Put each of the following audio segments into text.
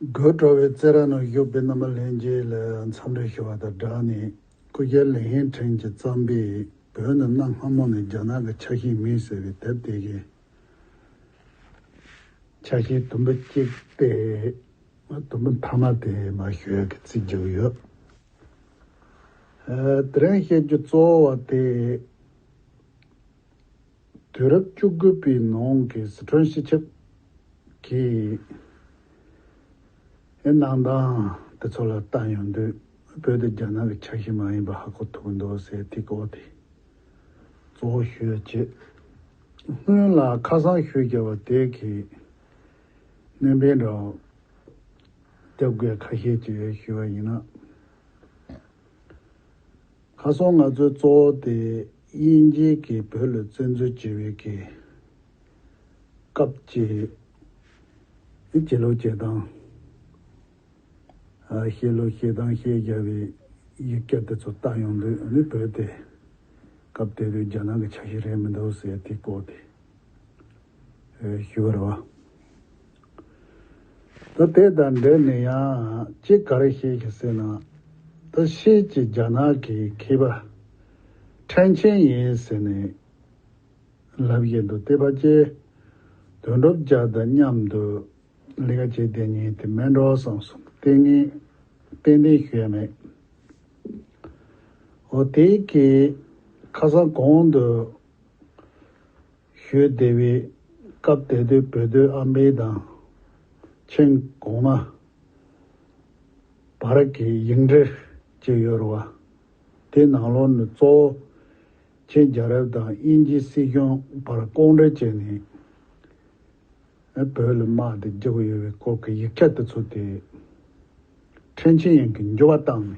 དགོད་བྲོ་བའི་རྩེད་ར་ནང་བཞུགས་པའི་རྣམ་པ་ལྷན་རྒྱས་ལ་འཚམས་འདྲི་ཞུ་བ་དང་སྦྲགས་ནས་སྐུ་སྒེར་ལི་ཧེང་ཁྲེང་གྱིས་བརྩམས་པའི་བོད་ནི་གནའ་སྔ་མོ་ནས་རྒྱ་ནག་གི་ཆ་ཤས་མིན་ཟེར་བའི་དེབ་དེ་གའི་ཆ་ཤས་དུམ་བུ་གཅིག་སྟེ་དུམ་བུ་མཐའ་མ་དེ་མ་ཞོལ་གྱི་རྩིས་བརྒྱུད་ཡོད། དེ་རིང་བཤད་རྒྱུ་གཙོ་བོ་བ་དེ་དུས་རབས་བཅུ་དགུ་པའི་ནང་གི་ཟི་ཁྲོན་སྤྱི་ཁྱབ་ཀྱིས་གནང་སྟངས་དེ་ཚོ་ལ་ལྟ་ཡོང་དུས་བོད་དེ་རྒྱ་ནག་གི་ཆ་ཤས་མ་ཡིན་པ་ཧ་གོ་ཐུབ་ཀྱི་འདུག་ཟེར་ཐིག་གོ་དེ་གཙོ་བོ་ཤོད་ཅེས་སྔོན་ལ་ཁ་སང་ཤོད་རྒྱ་བ་དེ་གིས་གནོན་པའི་འདྲ་བརྒྱབ་དགོས་ཁ་ཤས་ཀྱིས་ཞུས་པ་ཡིན་ན། ཁ་སང་ང་ཚོའི་གཙོ་བོ་དེ་དབྱིན་ཇི་གི་བོད་ལ་བཙན་འཛུལ་བྱེད་བའི་གི་སྐབས་ཀྱི་ནི་བྱེད་ལོ་བྱེད་སྟངས། བཤད་ལོ་བཤད་སྟངས་བཤད་རྒྱག་བའི་ཡིག་སྐྱ་དེ་ཚོ་བལྟ་ཡོང་དུས་ནི་བོད་དེ་སྐབས་དེ་དུས་རྒྱ་ནག་གི་ཆ་ཤས་རེད་མི་འདུག་ཟེར་དེའི་སྐོར་དེ། ཞུ་བར་བ། ད་དེ་དང་འབྲེལ་ནས་ཡང་ཅིག་ག་རེ་བཤད་ཀྱི་ཟེར་ན། ད་ཤེད་ཀྱི་རྒྱ་ནག་གི་མཁས་པ་ཁྲེན་ཆན་ཡན་ཟེར་ནས་ལབ་ཀྱི་འདུག་ལྟེ་བ་བཅས་དོན་གྲུབ་རྒྱ་དང་མཉམ་དུ་ལས་ཀ་བྱས་དེ་ཉིན་དེ་མན་འགྲོ་སོང་སོང་ལྟས་ངན་ཏན་ཏན་ཞུ་ཡ་མེད། འོ་དེ་གི་ཁ་སང་གོང་དུ། ཞོལ་སྡེ་བའི་སྐབས་དད་སྟོད་བོད་སྡོད་ཨམ་བན་དང། མཆན་གོང་མ། བ་ར་ཀའི་ཡིག་འབྲི་བཅས་ཡོད་རུང་བ། དེའི་ནང་ལོགས་ནི་གཙོ་བོ་ཆིན་རྒྱལ་རབས་དང་དབྱིན་ཇིའི་སྲིད་སྐྱོང་བར་ལྐོག་འབྲེལ་བྱས་ནས། བོད་ལ་དམག་དེ་རྒྱག་གི་ཡོད་པའི་སྐོར་གྱི་ཡིག་ཆ་དེ་ཚོ་དེ། ཁྲེན་ཆིན་ཡན་གྱིས་འགྱུར་བ་བཏང་ནས།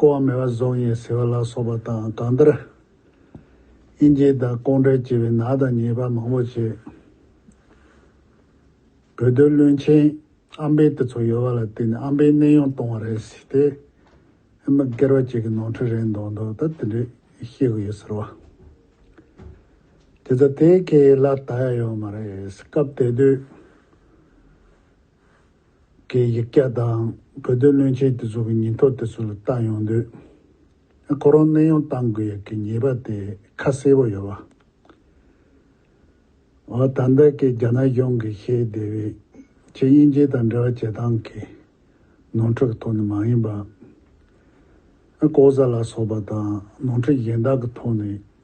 ཀོ་བ་མེ་བ་བཟང་ཡིན་ཟེར་བ་ལ་སོགས་པ་དང་གང་ལྟར། དབྱིན་ཇིའི་དང་ལྐོག་འབྲེལ་བྱས་པའི་ནག་དང་ཉེས་པ་མང་བོ་བྱས། བོད་དོན་བློན་ཆེན་ཨ་འབེ་དེ་ཚོ་ཡོད་པ་ལ་བརྟེན་ནས་ཨ་འབེ་གནས་དབྱུང་གཏོང་བ་རེད་ཟེར་ཏེ། ཨེ་མ་སྐེར་བ་ཅིག་གི་ནོར་འཁྲུལ་རེད་མདོག་མདོག་ད་དེ་འདྲས་ཤེས་དགོས་ཡོད་ཟེར་བ། དེ་ཚོ་དེའི་ཁེ་ལ་ད་ཡ་ཡོད་མ་རེད་སྐབས་དེ་དུས། གི་ཡིག་སྐྱག་དང་བོད་དོན་བློན་ཆེན་དེ་ཚོ་གི་ཉིན་ཐོ་དེ་ཚོ་ལ་ལྟ་ཡོང་དུས། ཁོ་རང་གནས་དབྱུང་བཏང་དགོས་ཡག་གི་ཉེས་པ་དེ་ཁ་གསལ་པོ་ཡོད། བ་ད་ལྟ་གི་རྒྱ་ནག་གཞུང་གི་ཤེས་བདེ་བའི་ཆེད་དབྱིན་ཇི་དང་འབྲེལ་བ་བྱེད་སྟངས་ཀྱི་ནོར་འཁྲུལ་གི་ཐོག་ནས་མ་ཡིན་པ། ལྐོག་ཟ་ལ་སོགས་པ་དང་ནོར་འཁྲུལ་གཞན་དག་གི་ཐོག་ནས་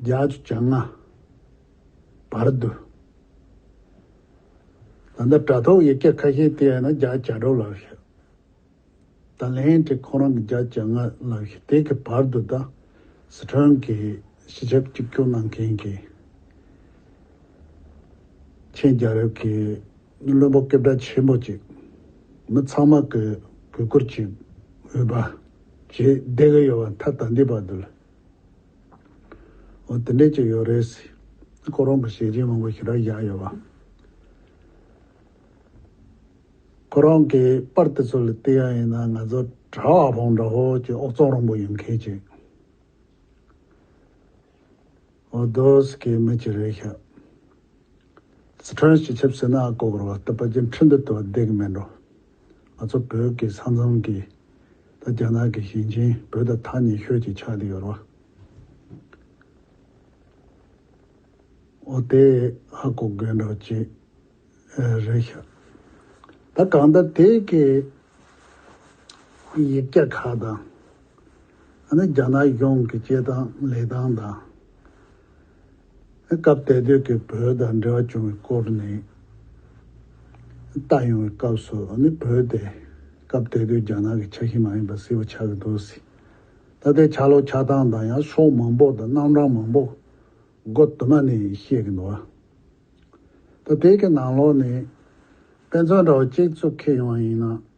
རྒྱ་ཆུ་བྱང་ང་བར་དུ། ད་ལྟ་དྲ་ཐོག་ཡིག་ཆ་ཁ་ཤས་དེ་ཡང་ན་རྒྱ་བྱ་སྒྲོ་ལགས་ཤི། ད་ལན་དེ་ཁོང་རང་གི་རྒྱ་བྱ་ང་ལགས་ཤི་དེ་གི་བར་དུ་ད་སི་ཁྲོན་གི་སི་ཆབ་གཅིག་གྱུར་གནང་མཁན་གི་ཆེན་རྒྱ་རབས་གི་བློན་པོ་སྐད་བརྡ་ཆེན་པོ་ཅིག་མི་ཚང་མ་གི་གུས་བཀུར་གྱི་འོས་པ་བྱེད་བསྡད་གི་ཡོད་པ་མཐའ་ད་འདི་བར་དུ་ལ་འོ་དེ་འདྲས་ཅིག་ཡོད་རེད། ཁོ་རང་གི་ཞལ་སྐྱིན་མང་པོ་ཞིག་རག་བཞག་ཡོད། ཁོ་རང་གི་པར་དེ་ཚོ་ལ་བལྟས་ཡ་ཡིན་ན་ང་ཚོ་གྲྭ་བ་བོང་བྲ་ཧོར་གྱི་ཨོག་ཙོང་རོང་པོ་ཡིན་མཁན་ཅིག་འོ་དོས་ཀྱི་མི་ཅིག་རེད་ཤག། སི་ཁྲོན་སྤྱི་ཁྱབ་སེ་ན་ཀོ་གོར་བ་ལྟ་བ་ཅན་ཁྲི་འདི་ལྟ་བུ་བསྡད་ཀྱི་མེད་འགྲོ། ང་ཚོ་བོད་ཀྱི་ས་མཚམས་ཀྱི་ད་རྒྱ་ནག་གི་ཞིང་ཆེན་བོད་དང་ཐག་ཉེ་ཤོས་ཀྱི་ཆགས་ཏེ་ཡོད་རོ། འོ་དེ་ཧ་གོ་དགོས་འགྲོ་ཅི་རེད་ཤག་ད་གང་ལྟར་དེ་གི་ཡིག་སྐྱག་ཁག་དང་ཨ་ནི་རྒྱ་ནག་གཞུང་གི་བྱེད་སྟངས་ལས་སྟངས་དང། སྐབས་དེ་དུས་ཀྱི་བོད་དང་འབྲེལ་བ་བྱུང་བའི་སྐོར་ནས་བལྟ་ཡོང་བའི་སྐབས་སུ་ནི་བོད་དེ་སྐབས་དེ་དུས་རྒྱ་ནག་གི་ཆ་ཤས་མ་ཡིན་པ་སྲིད་པ་ཆགས་ཀྱི་འདུག་སྲིད་ད་ལྟའི་ཆ་ལོག་ཆ་སྟངས་དང་ཡང་ཕྱོགས་མང་པོ་དང་རྣམ་གྲངས་མང་པོ་སྒོ་དུ་མ་ནས་ཤེས་ཀྱི་འདུག་ད་དེ་གི་ནང་ལོགས་ནས་དཔེ་མཚོན་འདྲ་བོ་གཅིག་བཙུགས་ཁེལ་ཡོང་བ་ཡིན་ན།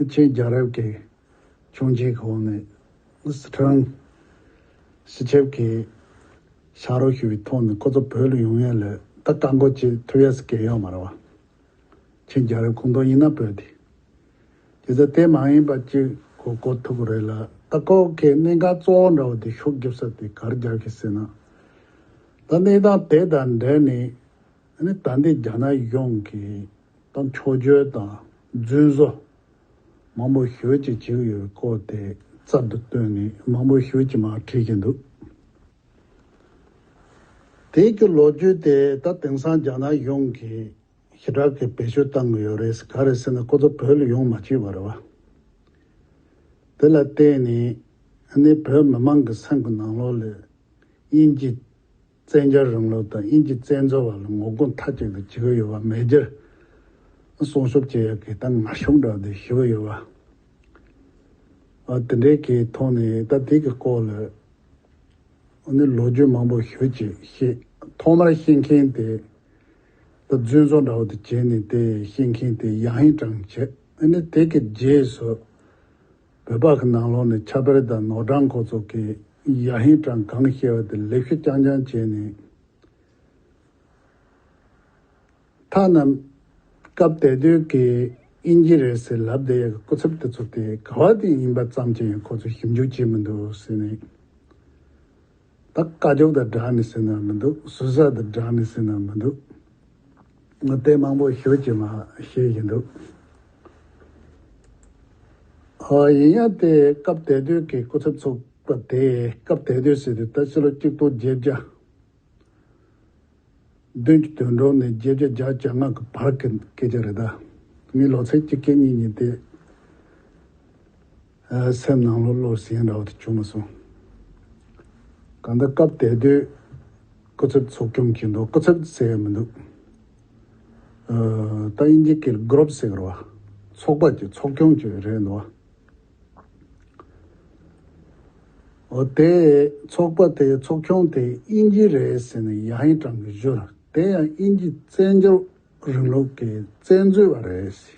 ཨ་ཆེན་རྒྱལ་རབས་ཀྱི་བྱུང་རྗེས་ཀྱི་འོག་ནས་སི་ཁྲོན་སི་ཁྲེབ་ཀྱིས་ཤག་རོགས་ཞུ་བའི་ཐོག་ནས་ཁོ་ཚོ་བོད་ལ་ཡོང་ཡས་ལས་ད་བཀག་འགོག་བྱེད་ཐུབ་ཡས་སྐད་ཡོད་མ་རེད་བ། ཆེན་རྒྱལ་རབས་ཁོང་དོན་ཡིན་ན་བོད་དེ་དེ་ཚོ་དེ་མ་ཡིན་པ་གཅིག་གོ་གོ་ཐུབ་རེད་ལ་ད་ཁོ་གས་གནད་འགག་གཙོ་བོ་འདྲ་བོ་དེ་ཤོག་རྒྱབ་ས་དེ་གར་རྒྱག་གི་ཟེར་ན། ད་གནས་སྟངས་དེ་དང་འབྲེལ་ནས་ད་འདི་རྒྱ་ནག་ཡོངས་ཀྱི་དང་འཕྲོ་སྦྱོར་དང་རྫུན་བཟོ། མང་པོ་ཞོལ་གྱིས་བྱེད་ཀྱི་ཡོད་པའི་སྐོར་དེ་རྩར་དུ་བཏོན་ནས་མང་པོ་ཞོལ་གྱིས་མ་བྲིས་ཀྱི་འདུག་དེའི་རྒྱུ་ལོ་རྒྱུས་དེ་ད་དེང་སང་རྒྱ་ནག་གཞུང་གིས་ཞི་དྲག་གིས་བེད་སྤྱོད་བཏང་གི་ཡོད་རེད་ག་རེད་ཟེར་ན་ཁོ་ཚོ་བོད་ལ་ཡོང་མ་བཅུག་བ་རེད་བ། དེ་ལ་བརྟེན་ནས་ནི་བོད་མི་མང་གི་སེམས་ཀྱི་ནང་ལོགས་ལས་དབྱིན་ཇི་བཙན་རྒྱལ་རིང་ལུགས་དང་དབྱིན་ཇི་བཙན་འཛུལ་བར་ལ་ངོ་རྒོལ་མཐའ་གཅིག་ཏུ་བྱེད་ཀྱི་ཡོད་པ་མེད་རྒྱུར་སྲུང་ཤོབ་བྱེད་ཡག་གི་ད་ང་ཤོབ་འདྲ་བདེ་ཞུ་གི་ཡོད་པ། དེ་འདྲའི་གི་ཐོག་ནས་ད་དེ་གི་སྐོར་ལ་ནི་ལོ་རྒྱུས་མང་པོ་ཞུ་ཅི་ཤེས་ཐོག་མར་ཤེས་མཁན་དེ་ད་བཙུན་བཟོ་འདྲ་བོ་དེ་བྱས་ནས་དེ་ཤེས་མཁན་དེ་ཡང་ཧིན་ཀྲང་བྱས་ནས་དེ་གི་རྗེས་སུ་བོད་པ་གི་ནང་ལོག་ནས་ཆབ་དཔལ་དང་ནོར་འཁྲང་འཁོར་ཚོགས་ཀྱི་ཡ་ཧིན་ཀྲང་གང་གི་ཤེས་བ་དེ་ལེགས་ཤོས་རྐྱང་རྐྱང་བྱས་ནས། ཐ་ན་སྐབས་དེ་དུས་ཀྱི་དབྱིན་ཇི་རེད་ཟེར་ལབ་དེ་ཡ་གི་སྐུ་ཚབ་དེ་ཚོ་དེ་ག་བ་དེ་ཡིན་པ་ཙམ་གྱིས་ཡང་ཁོ་ཚོ་ཞིབ་འཇུག་བྱེད་མི་འདུག་ཟེར་ནས། ད་བཀའ་རྒྱུགས་དང་སྦྲགས་ནས་ཟིན་ན་མི་འདུག་ཟུར་ཟ་དང་སྦྲགས་ནས་ཟིན་ན་མི་འདུག་ང་དཔེ་མང་པོ་ཞུ་ཅི་མ་ཞུ་ཡི་འདུག་ཨ། ཡིན་ཡང་དེ་སྐབས་དད་ལྡོས་ཀྱི་སྐུ་ཚབ་ཚོགས་པ་དེ་སྐབས་དད་ལྡོས་ཟེར་དུས་ད་ཕྱི་ལོ་གཅིག་སྟོང་བརྒྱད་བརྒྱ་བདུན་ཅུ་དོན་གྲོང་ནས་བརྒྱད་བརྒྱ་བརྒྱ་བརྒྱ་ལྔ་གི་བར་གྱི་སྐད་ཆ་རེད་ད། ངའི་ལོ་ཚད་གཅིག་གྱ་གཉིས་ཉིན་དེ། སེམས་ནང་ལོག་ལོག་ཟིང་འདྲ་བོ་དེ་བྱུང་མ་སོང། གང་ལྟར་སྐབས་དེ་དུས་སྐུ་ཚབ་ཚོགས་སྐྱོང་གིས་འདུག་སྐུ་ཚབ་ཟེར་ཡ་མི་འདུག་ཨོ། ཏཱ་ཡིན་ཇི་ཀིར་སྒྲུབ་ཟེར་བ་ཚོགས་པ་གྱི་ཚོགས་སྐྱོང་གྱི་རེད་འདུག་ཨོ། དེ་ཚོགས་པ་དེའི་ཚོགས་སྐྱོང་དེ་དབྱིན་ཇི་རེད་ཟེར་ནས་ཡ་ཧེང་ཀྲང་གིས་བཞུ་ལ་དེ་ཡང་དབྱིན་ཇི་བཙན་བྱོལ་རིང་ལུགས་ཀྱི་བཙན་འཛུལ་བ་རེད་ཟེར།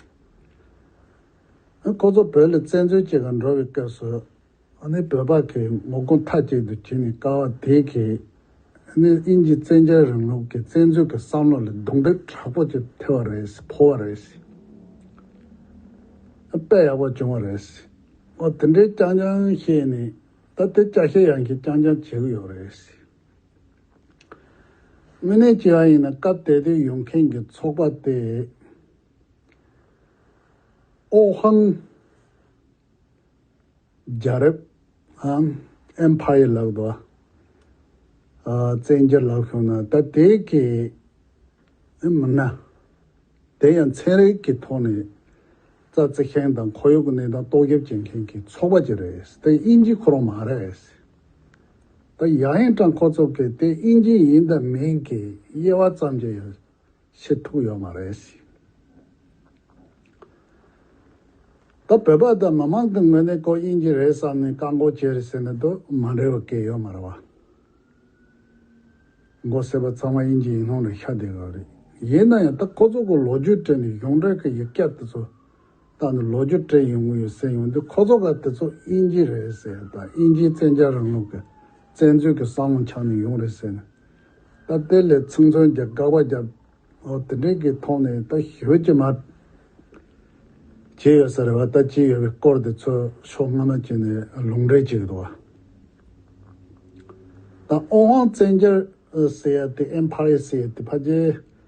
ཁོ་ཚོ་བོད་ལ་བཙན་འཛུལ་བྱེད་དགོས་འགྲོ་བའི་སྐབས་སུ། བོད་པ་གིས་ངོ་རྒོལ་མཐའ་གཅིག་ཏུ་བྱེད་ནས་ཀ་བ་དེ་གས། དབྱིན་ཇི་བཙན་རྒྱལ་རིང་ལུགས་ཀྱི་བཙན་འཛུལ་གྱི་བསམ་བློ་ལ་རྡུང་རྡེག་དྲག་པོ་ཅིག་ཐེབས་བ་རེད་ཕོག་བ་རེད། དཔེ་ཡག་པོ་བྱུང་བ་རེད། དེ་འདྲའི་རྐྱང་རྐྱང་བཤད་ནས་ད་དེ་སྐྱ་ཤས་ཡང་གིས་རྐྱང་རྐྱང་བྱེད་གི་ཡོད་རེད། དངོས་གནས་བྱས་པ་ཡིན་ན་སྐབས་དེ་དུས་ཡོང་མཁན་གྱི་ཚོགས་པ་དེ། ཨོ་ཧན། རྒྱ་རབས། ཧན། Empire། ལགས་དང། བཙན་རྒྱལ་ལགས་བྱུང་ན་ད་དེ་གའི་མི་སྣ་དེ་ཡང་ཚན་རིག་གི་ཐོག་ནས་རྩ་བརྩི་མཁན་དང་ཁོར་ཡུག་གི་གནས་སྟངས་ལྟོགས་རྒྱབ་བྱེད་མཁན་གྱི་ཚོགས་པ་ཅིག་རེད་དེ་དབྱིན་ཇི་ཁོ་རང་མ་རེད། ད་ཡ་ཧན་ཀྲང་ཁོ་ཚོ་གིས་དེ་དབྱིན་ཇི་ཡིན་དང་མིན་གྱི་དབྱེ་བ་ཙམ་གྱི། ཕྱིར་ཐུག་ཡོད་མ་རེད་ཟེར། ད་བོད་པ་དང་མི་མང་གི་ངོས་ནས་ཁོ་དབྱིན་ཇི་རེད་བསམ་ནས་བཀག་འགོག་བྱས་རེད་ཟེར་ནས་དོ་མ་འདྲི་བ་སྐད་ཡོད་མ་རེད་བ། མགོ་སེར་པ་ཚང་མ་དབྱིན་ཇི་ཡིན་ལུང་ལ་ཤ་བདེ་གི་རེད། ཡིན་ན་ཡང་ད་ཁོ་ཚོ་གི་ལོ་རྒྱུས་བྲིས་ནས་གཞུང་འབྲེལ་གི་ཡིག་སྐད་དེ་ཚོ་ད་ནི་ལོ་རྒྱུས་བཀྲལ་ཡོང་གི་ཡོད་ཟེར་ཡོང་དུས་ཁོ་ཚོ་ཀ་དེ་ཚོ་དབྱིན་ཇི་རེད་ཟེར་དང་དབྱིན་ཇིའི་བཙན་རྒྱལ་རིང་ལུགས་ཀྱི་བཙན་འཛུལ་གྱི་བསམ་བློ་འཆང་ནས་ཡོང་རེད་ཟེར་ནས་ད་དེ་ལས་ཚིག་མཚོན་གྱི་དགག་པ་བརྒྱབ། ཨོ་དེ་འདྲའི་གི་ཐོག་ནས་ད་ཞོལ་གྱི་མ་བྱས་ཡོད་ས་རེད་བ་ད་བྱས་ཡོད་པའི་སྐོར་དེ་ཚོ་ཕྱོགས་སྔ་མ་བྱས་ནས་ལུང་འདྲེན་བྱས་ཡོད་དོ། ད་ཨོ་ཧོང་བཙན་རྒྱལ་ཟེར་ཡ་དེ་ཨེམ་ཕ་རེ་ཟེར་ཡ་དེ་ཕ་རྗེས།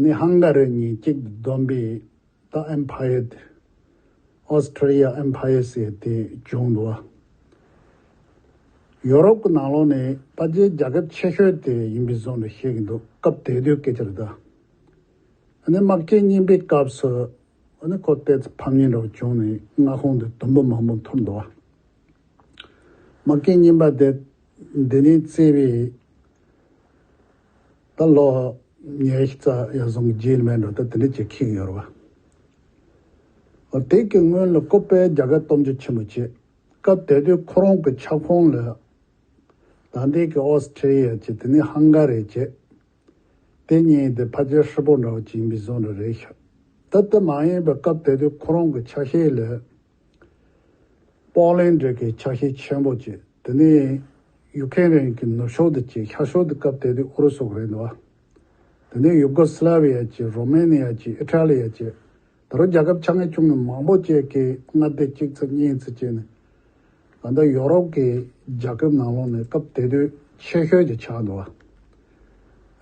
ནི་ཧང་ག་རི་གཉིས་གཅིག་ཏུ་བསྡོམས་པས་ད་ཨེམ་ཕ་ཡེ་ཏི། Austria Empire། ཟེར་ཏེ་བྱུང་འདུག་ལ། ཡོ་རོབ་ཀྱི་ནང་ལོགས་ནས་པ་ཇའི་རྒྱལ་ཁབ་ཆེ་ཤོས་དེ་ཡིན་པའི་བཟོ་འདྲ་བཤད་ཀྱི་འདུག་སྐབས་དེ་དུས་སྐད་ཆ་རེ་ད། ནི་དམག་སྐྱེལ་རྙིང་པའི་སྐབས་སུ། ནི་ཁོ་ལྟའི་ཚེ་ཕམ་ཉེས་འདྲ་བོ་བྱུང་ནས་མངའ་ཁོངས་དེ་དུམ་བུ་མང་པོ་འཐོར་འདུག་ལ། དམག་སྐྱེལ་རྙིང་པ་དེ་འདི་ནས་བརྩིས་པས། ད་ལོག་ཉའི་རྩ་ཡར་བཟུང་གི་རྗེས་མའི་འགྲོ་སྟངས་དེ་འདྲ་བྱེད་ཁེངས་ཡོད་རེད་བ། དེ་སྐད་སྔོན་ལ་ཀོ་པའི་རྒྱ་གར་སྟོབས་འབྱོར་ཆེན་པོ་བྱས་སྐབས་དེ་དུས་ཁོ་རང་གི་ཁྱབ་ཁོངས་ལ་དང་ཐད་ཀྱི་ཨོ་སི་ཁྲི་ཡཱ་བྱས་དེ་ནས་ཧང་ག་རེ་བྱས། དེ་གཉིས་དེ་ཕ་ཆེར་ཧྲིལ་པོ་འདྲ་བོ་བྱིན་པའི་བཟོ་འདྲ་རེད་ཤག་ད་ལྟ་མ་ཡིན་པའི་སྐབས་དེ་དུས་ཁོ་རང་གི་ཆ་ཤས་ལ་པོག་ལེན་འབྲས་ཀྱི་ཆ་ཤས་ཆེན་པོ་བཅས་དེ་ནས་ཡུག་ཁེན་རན་གྱི་ནུབ་ཕྱོགས་དུ་བཅད་ཤར་ཕྱོགས་དུ་སྐབས་དེ་དུས་ཨུ་རུ་སུ་རེད་འདུག་དེ་ནས་ཡུ་གོ་སི་ལ་བྷི་ཡ་བཅས་རོ་མཱེ་ནི་ཡ་བཅས་ཨི་ཏྲ་ལི་ཡ་བཅས་ད་རུང་རྒྱལ་ཁབ་ཆ་ངས་ཆུང་ངས་མང་པོ་བཅས་ཀྱིས་མངའ་སྡེ་གཅིག་ཚུད་གཉིས་ཚུད་བཅས་ནས་ད་ལྟ་ཡོ་རོབ་ཀྱི་རྒྱལ་ཁབ་ནང་ལོགས་ནས་སྐབས་དེ་དུས་ཆེ་ཤོས་ཀྱི་ཆགས་འདུག་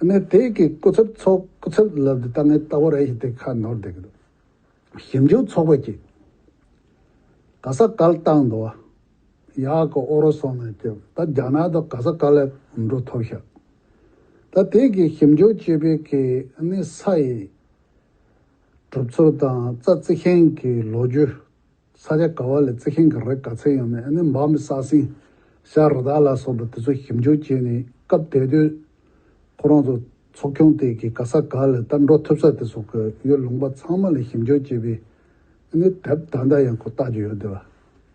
ཨ་ནི་དེ་གའི་སྐུ་ཚབ་ཚོགས་སྐུ་ཚབ་ལབ་དེ་ད་ངས་ལྟ་བ་རེ་ཞིག་དེ་ཁ་ནོར་བསྡད་ཀྱི་འདུག་ཞིབ་འཇུག་ཚོགས་པ་གཅིག་ག་ས་ག་ལ་བཏང་འདུག་ཨ་ཡ་ཀ་ཨོ་རོ་སོགས་ནས་སྐྱོད་ད་རྒྱ་ནག་དང་ག་ས་ག་ལ་འགྲོ་ཐོབ་ཤག་ད་དེ་གི་ཞིབ་འཇུག་བྱེད་པའི་གི་ནི་ས་ཡི་གྲུབ་ཚུལ་དང་རྩ་རྩི་ཤིང་གི་ལོ་རྒྱུ་ས་ཆ་ག་བ་ལ་རྩི་ཤིང་ག་རེ་ག་ཚད་ཡོད་མེད་ཨ་ནི་འབའ་མི་ས་སིང་ཤ་རི་དྭགས་ལ་སོགས་པ་དེ་ཚོ་ཞིབ་འཇུག་བྱས་ནས་སྐབས་དེ་དུས་ཁོ་རང་ཚོ་ཚོགས་ཆུང་དེ་གའི་ག་ས་ག་ལ་ལྟར་འགྲོ་ཐུབ་ས་དེ་སོགས་ཀྱི་ཡུལ་ལུང་པ་ཚང་མ་ལ་ཞིབ་འཇུག་བྱས་པས་ནི་དེབ་ད་ལྟ་ཡང་ཁོ་བལྟ་རྒྱུ་ཡོད་དེ། བ་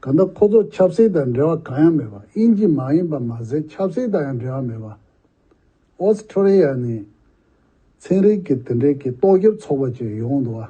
ག་ད་ཁོ་ཚོ་ཆབ་སྲིད་དང་འབྲེལ་བ་གང་ཡང་མེད་པ་དབྱིན་ཇི་མ་ཡིན་པ་མ་ཟད་ཆབ་སྲིད་དང་ཡང་འབྲེལ་བ་མེད་པ། Australia ནས་ཚན་རིག་གི་དེ་འབྲེལ་གྱི་ཏོག་དབྱིབས་ཚོགས་པ་ཅིག་ཡོང་འདུག་བ།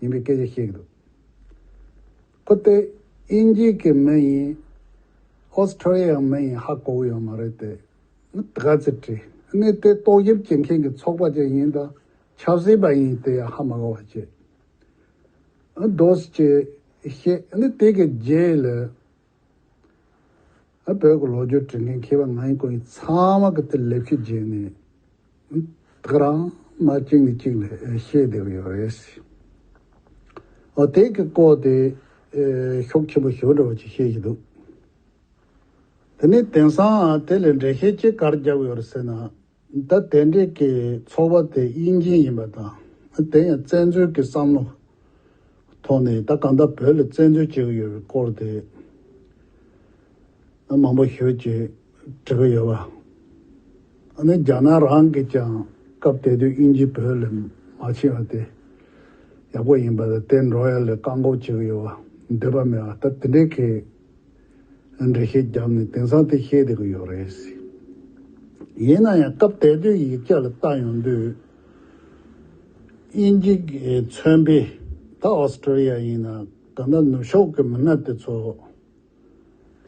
ཡིན་པའི་སྐད་ཆ་བཤད་ཀྱི་འདུག་ཁོ་སྟེ་དབྱིན་ཇིའི་གི་མི་ཡིན Australia ཡང་མི་ཡིན་ཧ་གོ་གི་ཡོད་མ་རེད་དེ་ག་ཚེ་དྲི་གནས་དེ་ཏོག་དབྱིབས་བྱེད་མཁན་གི་ཚོགས་པ་ཅིག་ཡིན་དང་ཆབ་སྲིད་པ་ཡིན་དེ་ཡང་ཧ་མ་གོ་བ་བྱེད་འདོད་ཅེས་བཤད་དེ་གི་རྗེས་ལ། བོད་ཀྱི་ལོ་རྒྱུས་བྲིས་མཁན་མཁས་པ་ང་ཡིན་ཁོ་ཡིན་ཚང་མ་གི་དེ་ལེགས་ཤོས་བརྗེད་ནས་ཐག་རང་མ་གཅིག་ནས་གཅིག་ལ་བཤད་བསྡད་ཀྱི་ཡོད་རེད། འོ་དེ་གི་སྐོར་དེ་ཤོག་ཆེན་པོ་ཞོ་འདྲ་བོ་ཅིག་བཤད་བཞིན་འདུག་དེ་ནས་དེང་སང་དེ་ལས་འགྲེལ་བཤད་ཅི་གར་རྒྱབ་ཡོད་རེད་ཟེར་ན། ད་དེ་འདྲས་ཀྱི་ཚོར་བ་དེ་དབྱིན་ཇི་ཡིན་པ་དང་དེ་ཡང་བཙན་འཛུལ་གྱི་བསམ་བློ་ཐོག་ནས་ད་གང་ལྟར་བོད་ལ་བཙན་འཛུལ་བྱེད་ཀྱི་ཡོད་པའི་སྐོར་དེ་མང་པོ་ཞོལ་གྱིས་དྲི་གི་ཡོད། ཨ་ནི་རྒྱ་ནག་རང་གིས་ཀྱང་སྐབས་དེ་དུས་དབྱིན་ཇི་བོད་ལས་མ་ཕྱིན་བ་དེ་ཡག་པོ་ཡིན་པ་ལ་དེ་འགྲོ་ཡ་ལས་བཀག་འགོག་བྱེད་ཀྱི་ཡོད་པ་འདོད་པ་མེད་ད་དེ་འདྲས་ཀྱི། ཡང་འགྲེལ་བཤད་བརྒྱབ་ནས་དེང་སང་དེ་བཤད་བསྡད་ཀྱི་ཡོད་རེད། ཡིན་ན་ཡང་སྐབས་དེ་དུས་ཡིག་ཆ་ལ་བལྟ་ཡོང་དུས། དབྱིན་ཇི་མཚོན་པའི་ད Australia ཡིན་ན་ད་ནག་ནུབ་ཕྱོགས་ཀྱི་མི་སྣ་དེ་ཚོ་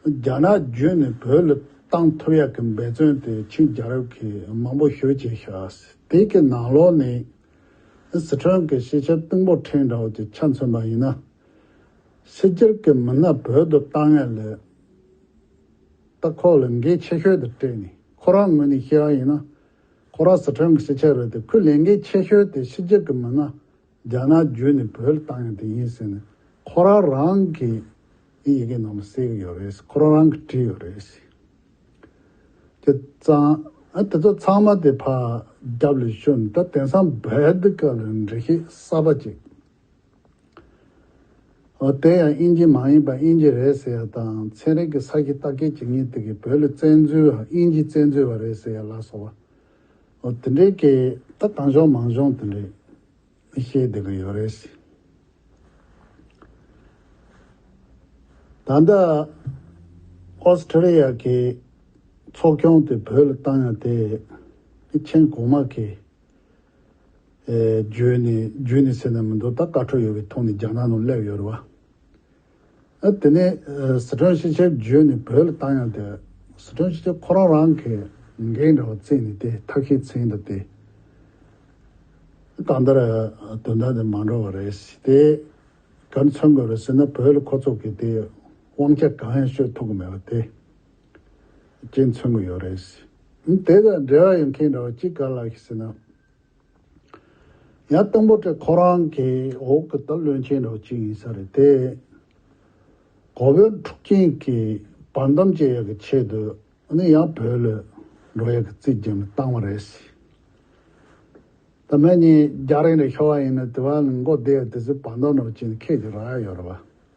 རྒྱ་ནག་བརྒྱུད་ནས་བོད་ལ་བཏང་ཐུབ་ཡག་གི་འབད་བརྩོན་དེ་ཆིང་རྒྱལ་རབས་ཀྱིས་མང་པོ་ཞུ་བྱས་ཤག་དེ་ཀྱི་ནང་ལོགས་ནས་ཟི་ཁྲོན་གྱི་ཤེས་བྱ་གཏིང་པོ་ཕྲན་འདྲ་བོ་ཅིག་ཆ་མཚོན་པ་ཡིན་ན། སེར་སྐྱར་གྱི་མི་སྣ་བོད་དུ་བཏང་ཡ་ལས་ད་ཁོག་ལ་འགན་ཆེ་ཤོས་དེ་སྤྲད་ནས་ཁོ་རང་ངོས་ནས་བཤད་ཡ་ཡིན་ན་ཁོ་རང་སི་ཁྲོན་གྱི་སེར་སྐྱ་རེད་དེ་ཁོས་ལས་འགན་ཆེ་ཤོས་དེ་སེར་སྐྱར་གྱི་མི་སྣ་རྒྱ་ནག་བརྒྱུད་ནས་བོད་ལ་བཏང་ཡ་དེ་ཡིན་ཟེར་ནས་ཁོ་རང་རང་གི་ཨི་ཡི་གེ་ནང་ལ་གསལ་གྱི་ཡོད་རེད་ཁོ་རང་རང་གི་བྲིས་ཡོད་རེད། དེ་ཙང་ཨ་དེ་ཚོ་ཚང་མ་དེ་ཕ་རྒྱབ་ལས་ཤོར་ནས་ད་དེང་སང་བོད་དཀའ་ལས་འབྲི་ཤེས་གསར་པ་ཅིག། ཨོ་དེ་ཡང་དབྱིན་ཇི་མ་ཡིན་པར་དབྱིན་ཇི་རེད་ཟེར་ཡ་དང་ཚན་རིག་གི་ས་གཞི་བརྟག་དཀའི་བྱེད་ངན་དེ་གི་བོད་ལ་བཙན་འཛུལ་བ་དབྱིན་ཇི་བཙན་འཛུལ་བ་རེད་ཟེར་ཡ་ལགས་སོ། ཨོ་དེ་འདྲའི་སྐད་ད་གང་གཞོང་མང་གཞོང་དེ་འདྲའི་བཤད་བསྡད་གི་ཡོད་རེད། ད་ལྟ Australia གི་ཚོགས་ཁྱོང་དེ་བོད་ལ་བཏང་ཡ་དེ་མཆན་གོང་མ་གི་བརྗོད་ནས་བརྗོད་ནས་ཟེར་ན་མི་འདུག་ད་དཀར་ཁྲོ་ཡོད་པའི་ཐོག་ནས་རྒྱ་ནག་ནང་སླེབས་ཡོད་རེད་བ། དེ་ནས་ཟི་ཁྲོན་ཤེས་ཆེར་བརྗོད་ནས་བོད་ལ་བཏང་ཡང་དེ་ཟི་ཁྲོན་ཤེས་ཆེར་ཁོ་རང་རང་གི་འགན་འདྲ་བ་བརྩད་ནས་དེ་ཐབས་ཤེས་ཚན་དང་དེ་གང་ལྟར་དོན་དག་འདི་མ་འགྲོ་བ་རེད་ཞེས་དེ་གར་མཚོན་དགོས་རེད་ཟེར་ན་བོད་ལ་ཁོ་ཚོ་གིས་དེ་དབང་ཆ་གང་ཡང་ཤོད་ཐུབ་གི་མེད་པ་དེ། ཅེས་མཚོན་གྱི་ཡོད་རེད། དེ་དང་འབྲེལ་བ་ཡོད་མཁན་འདྲ་བོ་གཅིག་ག་ལ་ཡིན་ཟེར་ན། ཡང་སྟོང་པོ་ཏྲེ་ཁོ་རང་གི་འོག་གི་སྟག་བློན་ཆེན་འདྲ་བོ་གཅིག་ཡིན་ས་རེད་དེ། གོ་བོད་འཁྲུག་རྐྱེན་གྱི་བར་མདམས་བཅད་ཡག་གི་ཆེད་དུ་ནི་ཡང་བོད་ལ་འགྲོ་ཡག་གི་རྩིས་རྒྱ་མི་བཏང་བ་རེད། ད་མན་ཉིད་རྒྱ་རིགས་འདྲ་ཤོར་བ་ཡིན་ན་དེ་བ་ནི་མགོ་བདེ་ཡ་དེ་ཚོའི་བར་མདམས་འདྲ་བོ་བཅད་ནས་ཁད་ཀྱི་རག་ཡ་ཡོད་རེད་བ།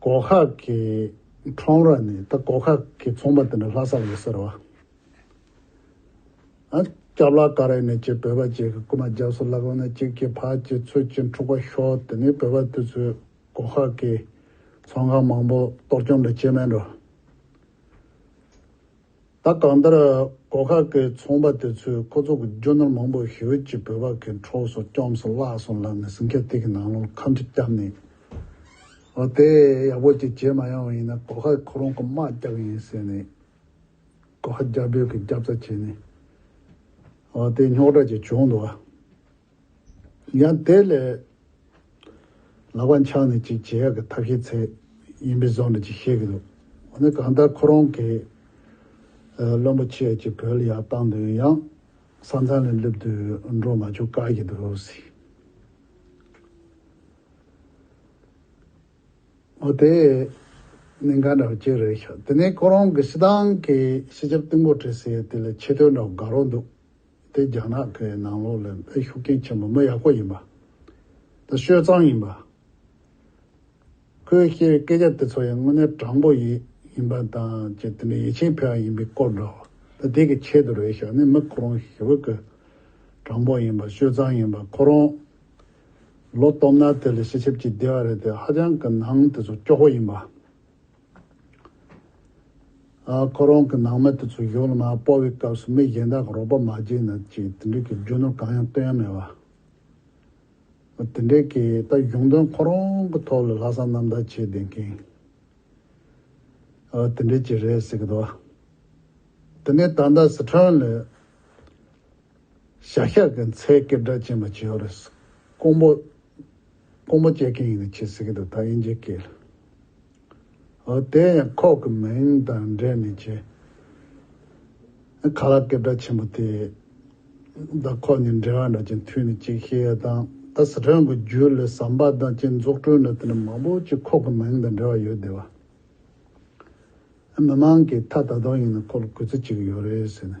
སྒོ་ཁ་གི་ཁྲོམ་ར་ནི་ད་སྒོ་ཁ་གི་ཚོང་པ་དེ་འདྲ་ལྷ་སར་ཡོད་ཟེར་བ། སྐྱབས་ལགས་ཀ་རེད་ནས་ཀྱི་བོད་པ་གཅིག་གི་རྐུ་མ་རྒྱབ་སུ་བླག་ཡོང་ན་གཅིག་གི་ཕ་གཅིག་ཚུལ་གཅིག་འཁྲུག་པ་ཤོར་དེ་ནི་བོད་པ་དེ་ཚོས་སྒོ་ཁ་གི་ཚོང་ཁང་མང་པོ་གཏོར་བཅོམ་འདྲ་བྱེད་མེད་འགྲོ། ད་གང་ལྟར་སྒོ་ཁ་ཀའི་ཚོང་པ་དེ་ཚོས་ཁོ་ཚོ་གི་རྒྱུ་ནོར་མང་པོ་ཧེ་ཝེ་ཅི་བོད་པ་གི་འཕྲོག་སོང་སྐྱོམ་སོང་བརླག་སོང་ལབ་ནས་ཟིང་ཆ་ཐིག་གི་ནང་ལོག་ཁམ་ཆུ་བསྐྱབས་ནས་འོ་དེ་ཡག་པོ་ཅིག་བྱེད་མ་ཡོང་བ་ཡིན་ན་སྒོ་ཁ་ཁོ་རང་གི་དམག་བསྐྱབས་ཡིན་ཟེར་ནས་སྒོ་ཁ་རྒྱ་བོད་ཀྱི་རྒྱབ་རྩ་བྱས་ནས་འོ་དེ་རྙོག་དྲ་ཅིག་བྱུང་འདུག་བ། ཡང་དེ་ལས། ལག་པ་འཆང་ནས་ཅིག་བྱེད་ཡག་གི་ཐབས་ཤེས་ཚད་ཡིན་པའི་བཟོ་ནས་ཅིག་བཤད་གི་འདུག་འོ་ན་གང་ལྟར་ཁོ་རང་གིས། བློན་པོ་ཁྱེད་ཀྱིས་བོད་ཡག་བཏང་དོན་ཡང། ས་མཚམས་ལས་བསླེབས་དུས་འགྲོ་མ་བཅུག་དཀའ་གི་འདུག་ཟེར། འོ་དེ་ནི་འགའ་འདྲ་བ་ཅིག་རེད་ཤག་དེ་ནས་ཁོ་རང་གིས་སི་ཏང་གི་སྤྱི་ཁྱབ་ཏུན་པོར་བྲིས་ཟེར་དེ་ལས་ཆེ་བསྟོད་འདྲ་བ་འགའ་རོགས་འདུག་དེ་རྒྱ་ནག་གི་ནང་ལོགས་ལས་འཕེལ་ཤུགས་རྐྱེན་ཆེན་པོ་མི་ཡག་པོ་ཡིན་པ། དེ་སྤྱོད་གཙང་ཡིན་པ། ཁོས་བཤད་པའི་སྐད་ཆ་དེ་ཚོ་ཡང་དངོས་གནས་དྲང་པོ་ཡིན་ཡིན་པ་དང་བཅས་དེ་ནི་ཡིད་ཆེས་འཕེལ་བ་ཡིན་པའི་སྐོར་འདྲ། ད་དེ་གི་ཆེད་དུ་རེད་བྱས་ནས་མི་ཁོ་རང་ཞི་བུ་ཀུ། དྲང་པོ་ཡིན་པ་སྤྱོད་གཙང་ཡིན་པ་ཁོ་རང། ལོ་སྟོང་ན་དེ་ལས་ཤི་ཆེབ་ཅིག་བདེ་བ་རེད་དེ་ཧ་ཅང་གི་ནང་དེ་ཚོ་སྐྱོ་བོ་ཡིན་པ། ཁོ་རང་གི་ནང་མི་དེ་ཚོ་གཞུང་ལ་མ་སྤོ་བའི་སྐབས་སུ་མི་གཞན་དག་གི་རོགས་པ་མ་བྱས་ན་ཅིག་དེ་འདྲས་ཀྱི་རྒྱུ་ནོར་གང་ཡང་སྟོན་ཡ་མེད་བ། དེ་འདྲས་ཀྱི་ད་གཞུང་དོན་ཁོ་རང་གི་ཐོག་ལ་ལྷག་བསམ་རྣམ་དག་བྱས་བསྡད་མཁན་དེ་འདྲས་ཅིག་རེད་ཟེར་གི་འདུག་བ། དེ་ནས་ད་ལྟ་སི་ཁྲོན་ལ་བྱ་གཞག་གི་མཚལ་སྐད་སྒྲ་ཅན་པ་བྱས་ཡོད་རེད། ཀོང་པོ། ཀོང་པོ་སྐྱེལ་མཁན་ཡིན་ནི་ཁྱེད་ཟེར་གི་འདུག་ད་དབྱིན་ཇི་སྐྱེལ། ཨོ་དེ་ཡང་ཁོག་གི་མིང་དང་འབྲེལ་ནས་བྱས། ཨ་ཁ་ལགས་སྐད་གྲགས་ཆེན་པོ་དེ། ད་ཁོག་ནས་འབྲེལ་བ་འདྲ་ཅན་མཐུད་ནི་ཅིག་ཤེས་ཡ་དང་ད་སི་ཁྲོན་གི་རྒྱུད་ལས་ཟམ་པ་དང་བཅས་འཛུགས་སྐྲུན་ལ་དེ་འདྲ་མང་པོ་ཅིག་ཁོག་གི་མིང་དང་འབྲེལ་བ་ཡོད་བསྡད་བ། ཨ་མི་མང་གིས་ད་ད་དུང་ཡིན་ནི་ཁོག་ལ་གུས་ཚུལ་ཅིག་ཡོད་རེད་ཟེར་ནས་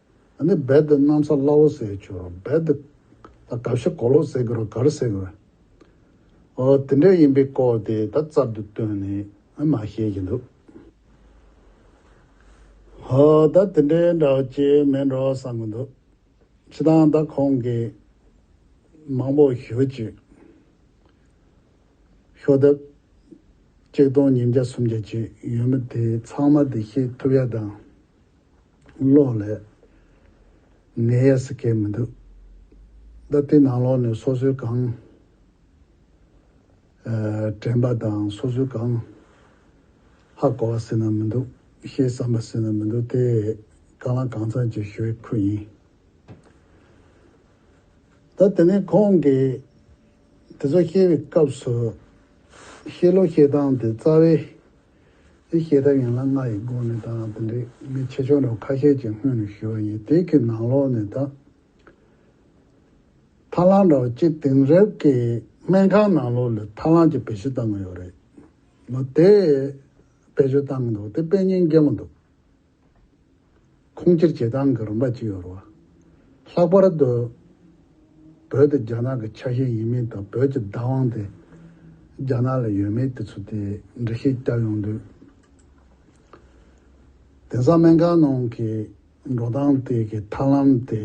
ནི་རྦད་དེ་གནམ་ས་བླ་འོག་ཟེར་གྱི་རོ་རྦད་དེ། ད་གབ་ཤ་གོ་ལོག་ཟེར་གི་རོ་གར་ཟེར་གི་རོ། ཨོ་དེ་འདྲ་ཡིན་པའི་སྐོར་དེ་ད་རྩར་དུ་བཏོན་ནས་མ་བཤད་ཀྱི་འདུག། ཧོ་ད་དེ་འདྲའི་འདྲ་བོ་ཅི་མེད་འགྲོ་བསམ་གྱི་འདུག། ཕྱི་དང་ད་ཁོང་གིས་མང་པོ་ཞུ་གཅིག། ཤོག་ལྡེབ། གཅིག་སྟོང་ཉིས་བརྒྱ་སུམ་བརྒྱ་ཅིག་ཡོད་མི་དེ་ཚང་མ་དེ་ཤེས་ཐུབ་ཡ་དང། གློག་ལས། ནད་ཡས་སུ་གས་མི་འདུག། ད་ལྟའི་ནང་ལོག་ནས་སོ་སོའི་གང། དྲན་པ་དང་སོ་སོའི་གང། ཧ་གོ་བ་སེ་ན་མི་འདུག་ཤེས་བསམ་པ་སེ་ན་མི་འདུག་དེ། གང་ལ་གང་འཚམས་ཀྱི་ཞུ་ཡིག་ཁུ་ཡིན། ད་དེ་ནས་ཁོང་གིས་དེ་ཚོ་བཤད་པའི་སྐབས་སུ། བཤད་ལུགས་བཤད་སྟངས་དེ་རྩ་བའི། དེ་བཤད་ཐབས་ཡན་ལག་ལྔ་ཡི་སྒོ་ནས་དང་དེ་འདྲའི་མི་ཆེ་ཆུང་རྣམས་ཁ་ཤས་ཀྱི་སྔུན་ནས་ཞུ་བ་ཡིན་དེ་གི་ནང་ལོག་ནས་དང་ཐ་ལང་འདྲ་བ་གཅིག་དེང་རབས་ཀྱི་སྨན་ཁང་ནང་ལོག་ལས་ཐ་ལང་གྱི་བེད་སྤྱོད་བཏང་གི་ཡོད་རེད། ནོ་དེ་བེད་སྤྱོད་བཏང་གི་འདུག་དེ་དཔེ་རྙིང་རྒན་པོ་འདུག་ཁུངས་སྐྱེལ་བྱེད་སྟངས་ཀྱི་རིམ་པ་གཅིག་ཡོད་རུང། ལྷག་པར་དུ་བོད་དེ་རྒྱ་ནག་གི་ཆ་ཤས་ཡིན་མིན་དང་བོད་ཀྱི་བདག་དབང་དེ་རྒྱ་ནག་ལ་ཡོད་མེད་དེ་ཚོ་དེ་འདྲ་ཤེས་རྒྱ་ཡོང་དུས། དེང་སང་སྨན་ཁང་ནང་གི་འགྲོ་སྟངས་དེ་གི་ཐར་ལམ་དེ།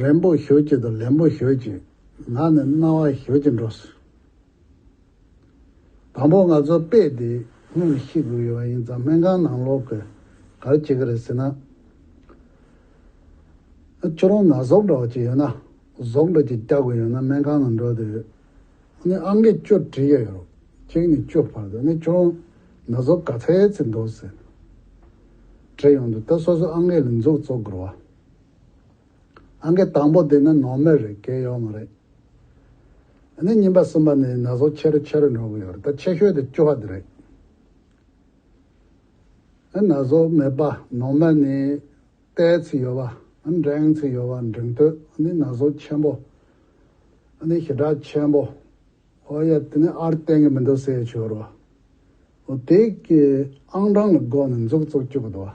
རན་པོ་ཞོད་ཅིག་དང་ལན་པོ་ཞོད་ཅིག་ངག་ནས་རྣ་བ་ཞོད་ཅིག་འགྲོ་སྲིད། དང་པོ་ང་ཚོ་དཔེ་དེ་སྔོན་ལ་ཤེས་དགོས་ཡོད་པ་ཡིན་ཙང་སྨན་ཁང་ནང་ལོག་དགོས་གལ་ཆེ་གི་རེད་ཟེར་ན། ཁྱོད་རང་ན་ཟོག་འདྲ་བ་ཅིག་ཡོད་ན་ཟོག་འདྲ་ཅིག་བཀྱག་དགོས་ཡོད་ན་སྨན་ཁང་ནང་འགྲོ་དགོས་ཡོད། ཨ་མས་ཅོ་དྲིས་ཀྱང་ཡོད་རོགས་གཅིག་ནས་ཅོ་བར་དུ་ཁྱོད་རང་ན་ཟོག་ག་ཚད་ཚད་འདུག་ཟེར་ན། དྲིས་ཡོང་དུས་ད་སོ་སོ་ཨ་མས་ལ་འཛུགས་བཙོག་དགོས་རོགས། ཨང་ཀི་དང་པོ་དེ་ནི་ནོར་མེད་རེད་སྐལ་ཡོད་མ་རེད། ཨ་ནི་གཉིས་པ་གསུམ་པ་ནི་ན་ཟུག་ཆེ་རུ་ཆེ་རུ་འགྲོ་གི་ཡོད་རེད་ད་ཆེ་ཤོས་དེ་བཅུ་བ་དེ་རེད། ཨ་ན་ཟུག་མེད་པ་ནོར་མེད་ནི་ལྟའི་ཚིག་ཡོད་པ་ཨ་ནི་འགྲེང་ཚིག་ཡོད་པ་འགྲེང་སྟོད་ཨ་ནི་ན་ཟུག་ཆེན་པོ་ཨ་ནི་ཞི་དྲག་ཆེན་པོ་ཨོ་ཡ་དེ་ནི་ཨར་བསྟན་གི་མི་འདུག་སེ་ཆོས་རོ་ཨོ་དེ་གི་ཨང་གྲངས་ལ་དགོངས་ནས་འཛུགས་བཙུགས་བཅུག་གི་འདུག་ཨ།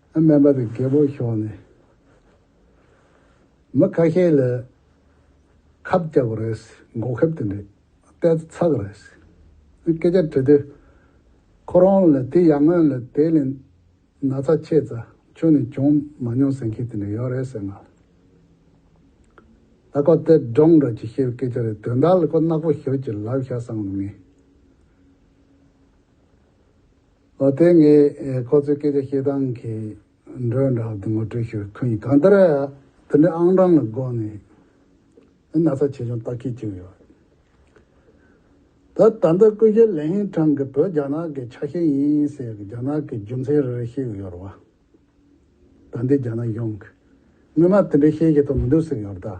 སྨན་པ་དང་རྒད་པོ་ཤོག་ནས་མི་ཁ་ཤས་ལ་ཁབ་རྒྱག་པ་རེད། འགོག་ཁབ་དེ་འདྲས་ལྟས་ཚག་རེད། སྐད་ཆ་དྲི་དུས་ཁོ་རང་ལ་དེ་ཡག་མོད་ལ་དེ་ལས་ན་ཚ་ཆེ་ཙ་ཁྱོད་ནས་བྱུང་མ་མྱོང་ཟེར་མཁན་དེ་འདྲས་ཡོད་རེད་ཟེར་ངང་ལ་ཁོ་སྟེ་སྒྲོག་འདྲ་ཅིག་བཤད་པའི་སྐད་ཆ་རེད་དོན་དག་ལ་ཁོ་གནག་པོ་ཞོག་ཅིག་ལབ་ཤག་བསམ་ནས་ངས། དེ་ངས་ཁོ་ཚོའི་སྐད་ཆ་བཤད་སྟངས་ཀྱི་འགྲོས་འདྲ་བ་དེ་ངོ་སྤྲོད་ཞུ་མཁན་ཡིན་གང་ལྟར་དེ་འདྲའི་ཨང་གྲངས་ལ་དགོངས་ནས་ནི་ན་ཚ་ཆེ་ཆུང་བརྟག་ཁྱད་བཅུག་ཡོད། ད་ལྟ་སྐུ་ཞབས་ལེ་ཧེང་ཁྲང་གིས་བོད་རྒྱ་ནག་གི་ཆ་ཤས་ཡིན་ཟེར་གི་རྒྱ་ནག་གི་རྒྱུ་མཚན་རེ་རེ་བཤད་གི་ཡོད་རེད་བ། ད་འདི་རྒྱ་ནག་གཞུང་གིས་སྔོན་མ་དེ་འདྲའི་བཤད་ཀྱི་ཐུབ་མི་འདུག་ཟེར་གི་ཡོད་རེད་ད།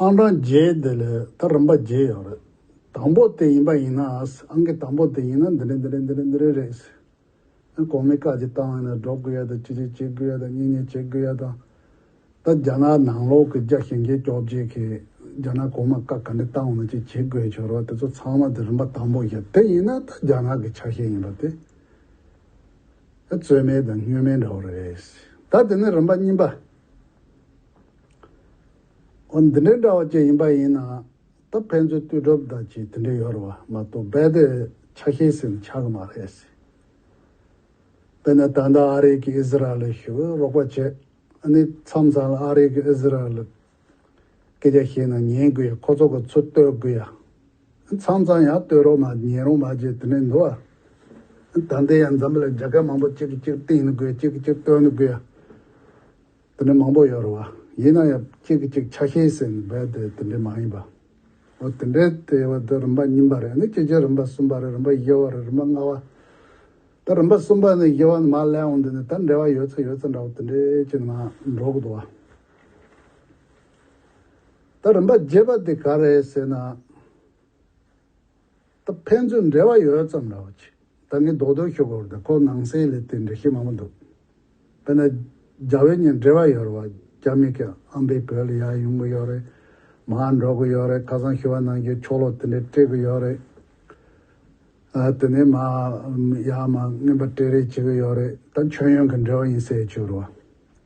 ཨང་གྲངས་བརྒྱད་དེ་ལས་ད་རིམ་པ་བརྒྱད་ཡོད་རེད། དང་པོ་དེ་ཡིན་པ་ཡིན་ན་ཨང་ཀི་དང་པོ་དེ་ཡིན་ན་འདི་རེད་འདི་རེད་འདི་རེད་འདི་རེད་རེད། གོང་མའི་བཀའ་ཇི་ལྟ་བ་ཡིན་ན་འགྲོ་དགོས་ཡ་དང་ཅི་རེད་བྱེད་དགོས་ཡ་དང་གཉིས་གཉིས་བྱེད་དགོས་ཡ་དང། ད་རྒྱ་ནག་ནང་ལོག་གི་རྒྱ་ཞེན་རྒྱལ་སྐྱོབ་བྱེད་མཁན་རྒྱ་ནག་གོང་མ་བཀའ་ག་འདྲི་བཏང་བ་ན་ཅི་བྱེད་དགོས་བྱེད་རོགས་དེ་ཚོ་ཚང་མ་དེ་རིམ་པ་དང་པོ་བཞག་དེ་ཡིན་ན་ད་རྒྱ་ནག་གི་ཆ་ཤས་ཡིན་པ་དེ། རྩོལ་མེད་དང་བསྙོན་མེད་འདྲ་བོ་རེད། ད་དེ་ནི་རིམ་པ་གཉིས་པ། འོ་འདི་འདྲའི་འདྲ་བ་བཅས་ཡིན་པ་ཡིན་ན། ད་ཕན་ཚུན་ལྟོས་གྲུབ་བདག་གཅིག་དེ་འདྲའི་ཡོད་རེད་བ་མ་གཏོགས་རྦད་དེ་ཆ་ཤས་ཟིན་ནི་ཆགས་ཀྱི་མ་རེད། དཔེར་ན་ད་ལྟ་ཨ་རིག་གིས་ཨི་ཟི་རལ་ལ་ཞི་བའི་རོགས་པ་བྱེད། ཨ་ནི་མཚམས་མཚམས་ལ་ཨ་རིག་གིས་ཨི་ཟི་རལ་ལ་སྐད་ཆ་བཤད་ན་ཉན་དགོས་ཡ་ཁོ་ཚོ་གི་ཚུར་བསྟོད་དགོས་ཡ། ཚང་ཚང་ཡང་བསྟོད་རོགས་མ་ཉན་རོགས་མ་བྱེད་དེ་ནས་འདུག་ཨ། ད་ལྟའི་ཡང་འཛམ་བུ་ལ་རྒྱ་སྐད་མང་པོ་གཅིག་གི་གཅིག་བསྟན་ནི་དགོས་གཅིག་གི་གཅིག་བསྟོད་ནི་དགོས་ཡ། དེ་འདྲ་མང་པོ་ཡོད་རེད་བ། ཡིན་ན་ཡང་གཅིག་གི་གཅིག་ཆ་ཤས་ཟེར་ནི་རྦད་དེ་དེ་འདྲས་མ་ཡིན་པ། འོ་དེ་འདྲས་དེ་བ་དེ་རིམ་པ་གཉིས་པ་རེད་ནི་སྤྱི་ཆིངས་རིམ་པ་གསུམ་པ་རེད་རིམ་པ་བཞི་བ་རེད་རིམ་པ་ལྔ་བ། ད་རིམ་པ་གསུམ་པ་ནས་བཞི་བ་ནི་མ་གླེང་འོང་དུས་ནི་ད་འབྲེལ་བ་ཡོད་ཚ་ཡོད་ཚ་འདྲ་བ་དེ་འདྲས་ཅི་ནི་མ་འགྲོ་གི་འདུག་བ། ད་རིམ་པ་བརྒྱད་པ་དེ་ག་རེད་ཟེར་ན། ད་ཕན་ཚུན་འབྲེལ་བ་ཡོད་ཙམ་རེད་བ་ཅིག་ད་ངས་རྡོག་རྡོག་ཤོད་དགོས་རེད་ཁོ་ནང་སའི་ལས་དེ་འདྲ་ཤེས་མང་པོ་འདུག་དཔེར་ན། རྒྱ་བོད་གཉིས་འབྲེལ་བ་ཡོད་རེད་བ་རྒྱ་མི་གིས་ཨམ་པའི་བོད་ལ་ཡར་ཡོང་གི་ཡོད་རེད། མ་ཧར་འགྲོ་གི་ཡོད་རེད་ཁ་སང་ཤི་བ་ནང་གི་ཆོ་ལོ་དེ་འདྲ་སྤྲད་གི་ཡོད་རེད། དེ་ནས་མ་ཧར་ཡར་མར་རྔན་པ་སྤྲད་རེས་བྱེད་གི་ཡོད་རེད་ད་མཆོད་ཡོན་གྱི་འབྲེལ་བ་ཡིན་ཟེར་ཆོག་རེད་བ།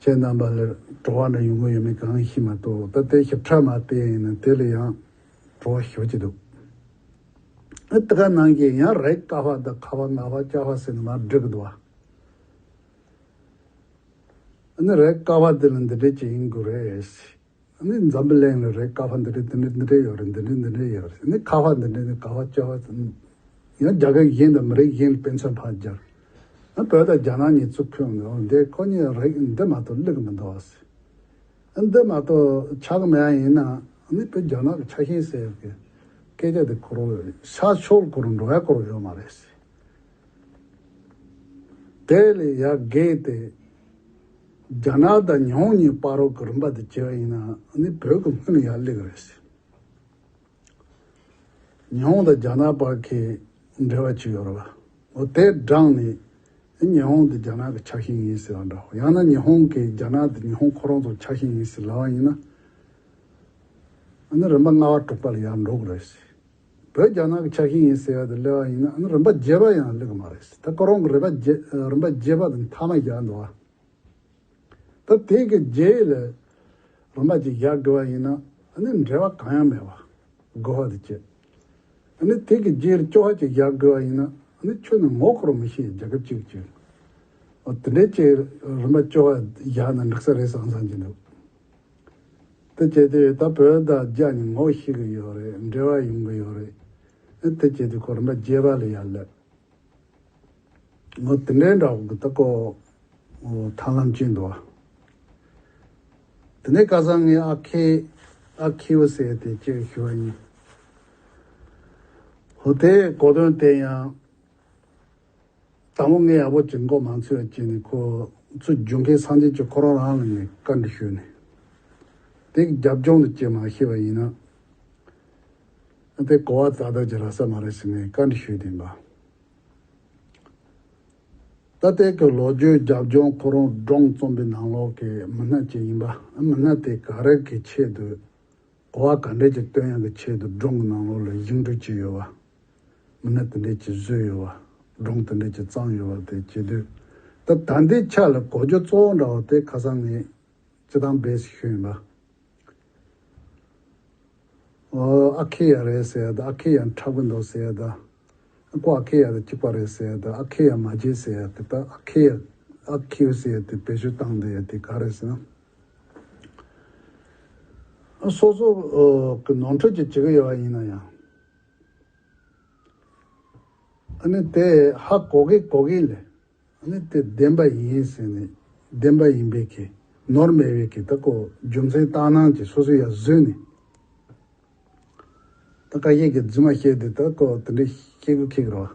ཁྱེད་རྣམས་པ་ལས་བྲོ་བ་འདྲ་ཡོང་གི་ཡོད་མེད་གང་ཤེས་མ་གཏོགས་ད་ལྟའི་ཞིབ་ཕྲ་མ་བལྟས་ཡིན་ན་དེ་ལས་ཡང་བྲོ་བ་ཞོ་གྱི་འདུག་ཨི་ད་ག་ནང་གི་ཡང་རེ་ཀ་བ་ད་ཁ་བ་ང་བ་ཅག་བ་ཟེར་ནས་མར་བསྒྲིག་གི་འདུག་བ། ཨ་ནི་རེ་ཀ་བ་དེ་ལ་འདི་འདྲས་ཅིག་ཡིན་དགོས་རེད། ནི་འཛམ་བུ་གླིང་ལ་རེ་ཀ་བ་འདི་འདྲ་འདི་འདྲ་འདི་འདྲ་ཡོད་རེད་འདི་འདྲ་འདི་འདྲ་ཡོད་རེད་ནི་ཁ་བ་འདི་འདྲ་ནི་ག་བ་ཅི་བ་ཡང་རྒྱ་གར་གཞན་དང་མི་རིགས་གཞན་ལ་དཔེ་མཚོན་ཕར་སྦྱར་ཨ་བོད་དང་རྒྱ་ནག་གཉིས་གཙུག་ཁུལ་ནི་འོ་འདི་ཁོ་གཉིས་རེད་འདི་མ་གཏོགས་བླུག་མི་འདུག་ཟེར་ཨ་འདི་མ་གཏོགས་ཆག་མེད་ཨ་ཡིན་ན་ནི་བོད་རྒྱ་ནག་གི་ཆག་ཤེས་ཟེར་ཡོད་ཀི་སྐད་ཆ་འདི་ཁོ་རང་ཤར་ཕྱོགས་སྐོར་འགྲོ་བའི་སྐོར་ཡོད་མ་རེད། དེ་ལས་ཡར་རྒས་ཏེ། རྒྱ་ནག་དང་ཉི་ཧོང་གཉིས་དཔའ་རོགས་ཀྱི་རིམ་པ་དུ་བསྐྱེལ་བ་ཡིན་ནའང་བོད་ཀྱི་སྔོན་ཡག་ལེགས་རེད་ཟེར། ཉི་ཧོང་དང་རྒྱ་ནག་བར་གྱི་འབྲེལ་བ་ཅིག་ཡོད་རེད་པ། འོ་དེ་བགྲངས་ནས་ཉི་ཧོང་དེ་རྒྱ་ནག་གི་ཆགས་ཤིང་ཡིན་ཟེར་བ་འདྲའོ། ཡང་ན་ཉི་ཧོང་གིས་རྒྱ་ནག་དེ་ཉི་ཧོང་ཁོ་རང་ཚོ་ཆགས་ཤིང་ཡིན་ཟེར་ལབ་བ་ཡིན་ན། རིམ་པ་ལྔ་བ་དཀྲུགས་པ་ལ་ཡར་འགྲོ་གི་རེད་ཟེར། བོད་རྒྱ་ནག་གི་ཆ་ཤས་ཡིན་ཟེར་བ་དེ་གླེ་བ་ཡིན་ན་ཨ་ནི་རིམ་པ་བརྒྱད་པ་ཡང་གླེ་གི་མ་རེད། ད་ཁོ་རང་གི་རིམ་པ་བརྒྱད་པ་དེ་མཐའ་མ་བཞག་འདུག་ཨ། ད་དེ་གི་རྗེས་ལ་རིམ་པ་གཅིག་བཞག་དགོས་པ་ཡིན་ན་ཨ་ནི་འབྲེལ་བ་གང་ཡང་མེད་པ་དགོས་བ་དེ་བྱེད། ཨ་ནི་དེ་གི་རྗེས་ལ་ཅོ་བ་གཅིག་བཞག་དགོས་བ་ཡིན་ན་ཨ་ནི་ཁྱོད་ནི་ངོ་ཁོ་རུ་མི་ཤེས་རྒྱ་ཁབ་གཅིག་གི་ཆེད་དུ་དེ་འདྲའི་ཆེད་རིམ་པ་ཅོ་བ་བཞག་ན་འགྲིག་ས་རེད་བསམ་བསམ་གྱི་འདུག། དེ་བྱས་ཏེ་ད་བོད་དང་རྒྱ་གཉིས་ངོ་ཤེས་གི་ཡོད་རེད་འབྲེལ་བ་ཡོང་གི་ཡོད་རེད། དེ་བྱས་ཏེ་གོར་མ་རྒྱས་པ་ལ་ཡར་སླེབས། ངོ་དེ་འདྲའི་འདྲ་བོ་གི་ད་ཀོ་ཐང་ལམ་བཅད་འདུག་བ། དེ་ནས་ཀ་སང་ངས་ཨ་ཁེ་ཨ་ཁེའུ་བསད་དེ་ཅེས་ཞུ་བ་ཡིན། ཧོ་དེས་གོ་དོན་དེ་ཡང། དང་པོ་ངའི་ཡག་པོ་བྱེད་མགོ་མང་ཚོས་བྱས་ནས་ཁོ་ཚོ་རྒྱུན་ཁའི་སངས་རྒྱས་ཀྱི་ཁོ་རང་རང་ལ་ནས་བཀའ་འདྲི་ཞུས་ནས་དེ་གི་རྒྱབ་ལྗོངས་དུ་བསྐྱེལ་མ་ཤེས་པ་ཡིན་ན་དེ་གོ་བ་ད་ལྟ་གྱི་ར་ས་མ་རེད་ཟེར་ནས་བཀའ་འདྲི་ཞུས་དེ་འབའ་ད་ལྟའི་གི་ལོ་རྒྱུས་རྒྱབ་ལྗོངས་ཁོ་རང་སྒྲོང་རྩོམ་པའི་ནང་ལོག་གི་མི་སྣ་ཅིག་ཡིན་པ་མི་སྣ་དེ་ག་རེ་གི་ཆེད་དུ་གོ་བ་ག་འདྲས་ཀྱི་བཏོན་ཡང་གི་ཆེད་དུ་སྒྲོང་གི་ནང་ལོག་ལ་བཞེངས་སྐྲུན་བྱས་ཡོད་པ། མི་སྣ་དེ་འདྲའི་གྱིས་བཟོས་ཡོད་བ། སྒྲུང་དེ་འདྲའི་གྱིས་བརྩམས་ཡོད་བ་དེ་བྱེད་དུས། ད་ལྟ་འདི་ཆ་ལ་གོ་རྒྱུ་གཙོ་བོ་འདྲ་བ་དེ་ཁ་སང་ངས་སྤྱི་བཏང་སྦས་ཟིག་ཤོས་ཡིན་པ། ཨ་ཁེ་ཡ་རེད་ཟེར་ཡ་ད་ཨ་ཁེ་ཡ་འཁྲབ་གི་འདུག་ཟེར་ཡ་ད། ཀོ་ཨ་ཁེ་ཡ་ད་གཅིག་པ་རེད་ཟེར་ཡ་ད་ཨ་ཁེ་ཡ་མ་བརྗེད་ཟེར་ཡ་དེ་ད་ཨ་ཁེ་ཡ་ཨ་ཁེ་ཡུ་ཟེར་ཡ་དེ་བེད་སྤྱོད་བཏང་འདུག་ཡ་དེ་ག་རེད་ཟེར་ན། སོ་སོ་གི་ནོར་འཁྲུལ་གྱིས་བྱེད་ཀྱི་ཡོད་བ་ཡིན་ན་ཡང། དེས་ཧ་གོ་གི་གོ་གི་ལས། དེ་བདེན་པ་ཡིན་ཟེར་ནས་བདེན་པ་ཡིན་པའི་གེ། ནོར་མེད་པའི་གེ་དག་གོ་རྒྱུ་མཚན་རྟགས་སྣང་གིས་སོ་སོ་ཡང་བཟོས་ནས། ད་བཀའ་བརྒྱད་ཀྱི་རྫུན་མ་བཤད་དེ་དག་གོ་དེ་འདྲའི་སྐྱེ་དགུ་ཁེགས་རོགས།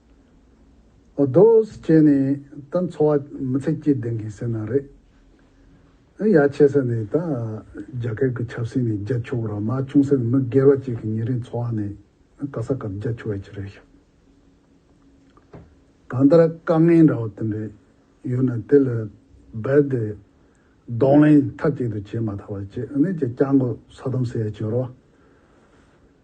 ཨོ་དོསས་ཀྱེ་ནི་ད་འཚོ་བ་མི་ཚེ་སྐྱིད་ལྡན་གི་ཟེར་ན་རེད། ཨེ་ཡ་ཆེ་ས་ནས་ད་རྒྱ་གར་གི་ཆབ་སྲིད་ནས་རྒྱ་ཆུ་བོ་ར་མ་ཆུང་ས་ནས་མི་སྒེར་བ་གཅིག་གི་ཉིན་རེའི་འཚོ་བ་ནི་ག་ས་ག་རྒྱ་ཆུ་བས་ཅི་རེད་ཤག། གང་ལྟར་དཀའ་ངལ་འདྲ་བོ་དེ་འདྲ་ཡོད་ན་དེ་ལ་རྦད་དེ་གདོང་ལེན་མཐའ་གཅིག་ཏུ་བྱེད་མ་ཐག་པ་ཅི་ཨེ་ནས་ཀྱི་སྐྱག་མགོ་ས་དོམ་ཟེར་ཡ་ཅི་རོ།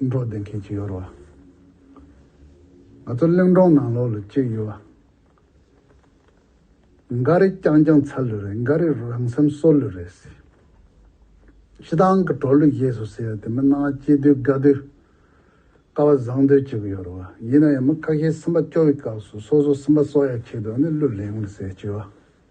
འགྲོ་བདེ་མཁན་གཅིག་ཡོད་རོགས། ང་ཚོ་གླིང་སྒྲོང་ནང་ལོགས་ལ་གཅིག་ཡོད། འགའ་རེ་རྐྱང་རྐྱང་ཚར་ལོས་རེད་འགའ་རེ་རང་སེམས་གསོ་ལོས་རེད། ཤི་ཐང་གི་གྲོགས་ལུས་རྗེས་སུ་ཟེར་དེ་མི་སྣང་བ་སྐྱིད་དུས་དགའ་དུས། དཀའ་བ་བཟང་དུས་གཅིག་ཡོད་རོགས། ཡིན་ན་ཡང་མི་ཁ་ཤས་སེམས་པ་སྐྱོ་བའི་སྐབས་སུ་སོ་སོ་སེམས་པ་གསོ་ཡ་ཆེད་དུ་ནི་གླུ་ལེན་ལེན་ཟེར་གཅིག་ཡོད།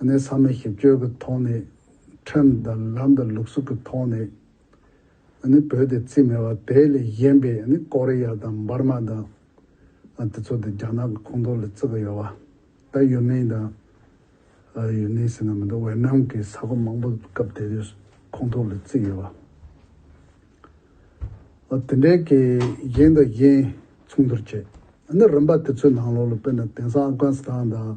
གནས་ཚང་མས་ཞིབ་དཔྱོད་ཀྱི་ཐོག་ནས Trend དང་ལམ་དང་ལུགས་སྲོལ་གྱི་ཐོག་ནས་བོད་དེ་རྩིས་མེད་པ་དེ་ལས་གཞན་པའི་ཀོ་རེ་ཡ་དང་འབར་མ་དང་དེ་ཚོ་དེ་རྒྱ་ནག་གི་ཁོངས་གཏོགས་ལ་བརྩི་གི་ཡོད་པ་ད་ཡུན་ནན་དང་ཡུན་ནན་ཟེར་ན་མི་འདུག་ཝེར་ནམ་གྱི་ས་ཁོངས་མང་པོ་སྐབས་དེ་དུས་ཁོངས་གཏོགས་ལ་བརྩིས་ཡོད་པ། དེ་འདྲའི་གྱི་གཞན་དང་གཞན་མཚུངས་བསྡུར་བྱེད་རིམ་པ་དེ་ཚོའི་ནང་ལོགས་ལ་དཔེར་ན་དེང་སང་ཨབ་གྷན་སི་ཐང་དང།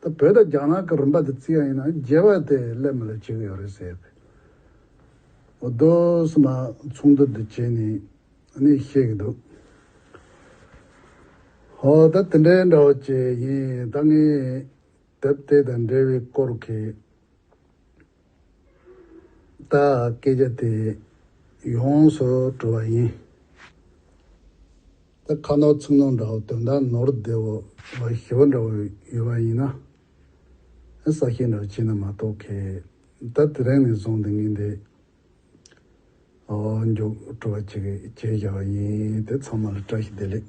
ད་བོད་དང་རྒྱ་ནག་གི་རིམ་པ་དེ་རྩི་ཡ་ཡིན་ན་རྒྱལ་བ་དེ་སླད་མ་ལ་བྱེད་གི་ཡོད་རེད་ཟེར་གི། འོ་དོ་སི་མ་ཚོགས་འདུ་འདི་བྱེད་ནི་ཨ་ནི་བཤད་གི་འདུག། ཧོ་ད་དེ་འདྲའི་འདྲ་བ་བྱེད་ཡིན་ད་ངས་དེབ་དེ་དང་འབྲེལ་བའི་སྐོར་གི་ད་སྐད་ཆ་དེ་ཡོངས་སུ་གྲོལ་བ་ཡིན། ད་ཁ་ནོར་ཚིག་ནོར་འདྲ་བོ་དོན་དག་ནོར་བདེ་བོ་བ་ཞི་བ་འདྲ་བོ་ཡོད་པ་ཡིན་ན། ཨེ་ས་ཤེས་འདྲ་བྱེད་ན་མ་གཏོགས་ཁེ་ད་དེ་རིང་ནས་བཟུང་སྟེ་ངེས་འདི་མགྱོགས་གྲོལ་བ་བྱེད་ཀྱི་བྱས་བཞག་བ་ཡིན་དེ་ཚང་མ་ལ་བཀྲ་ཤིས་བདེ་ལེགས།